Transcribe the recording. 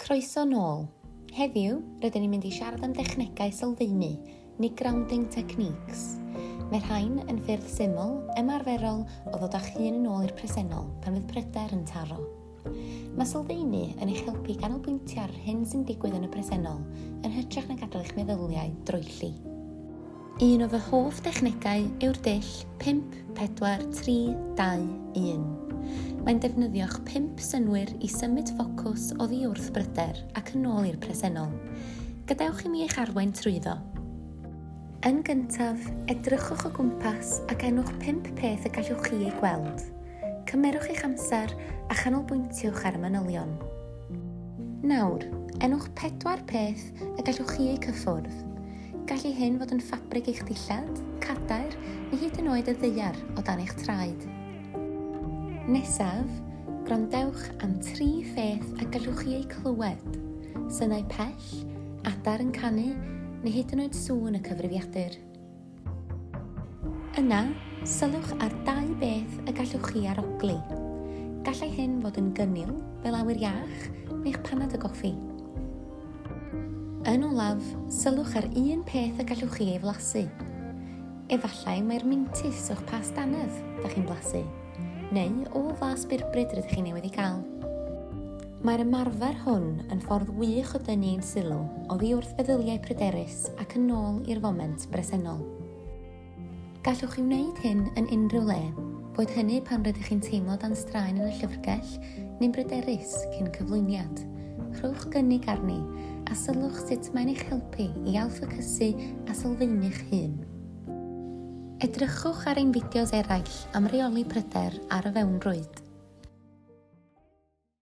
Croeso nôl! Heddiw, rydyn ni'n mynd i siarad am dechnegau sylfaenu, neu grounding techniques. Mae rhain yn ffyrdd syml, ymarferol o ddod â'ch hun yn ôl i'r presennol pan fydd pryder yn taro. Mae sylfaenu yn eich helpu i ganolbwyntio ar yr hyn sy'n digwydd yn y presennol, yn hytrach na gadael eich meddyliau droelli. Un o fy hoff dechnegau yw'r dull 5, 4, 3, 2, 1. Mae'n defnyddio'ch pump synwyr i symud ffocws oddi wrth bryder ac yn ôl i'r presennol. Gadewch i mi eich arwain trwyddo. Yn gyntaf, edrychwch o gwmpas ac enwch pump peth y gallwch chi eu gweld. Cymerwch eich amser a chanolbwyntiwch ar y manylion. Nawr, enwch pedwar peth y gallwch chi eu cyffwrdd. Gallu hyn fod yn ffabrig eich dillad, cadair, neu hyd yn oed y ddaear o dan eich traed. Nesaf, gwrandewch am tri pheth y gallwch chi eu clywed, synau pell, adar yn canu, neu hyd yn oed sŵn y cyfrifiadur. Yna, sylwch ar dau beth y gallwch chi arogli. Gallai hyn fod yn gynnil, fel awyr iach, neu'ch panad o goffi. Yn olaf, sylwch ar un peth y gallwch chi ei flasu. Efallai mai'r mintys o'ch pas dannedd da chi'n blasu, neu o fas birbryd rydych chi newydd ei gael. Mae'r ymarfer hwn yn ffordd wych o dynnu ein sylw oddi wrth feddyliau pryderus ac yn ôl i'r foment bresennol. Gallwch chi wneud hyn yn unrhyw le, boed hynny pan rydych chi'n teimlo dan straen yn y llyfrgell neu'n bryderus cyn cyflwyniad. Rhowch gynnig arni a sylwch sut mae'n eich helpu i ailffocysu a sylfaenu'ch hun. Edrychwch ar ein fideos eraill am reoli pryder ar y fewnrwyd.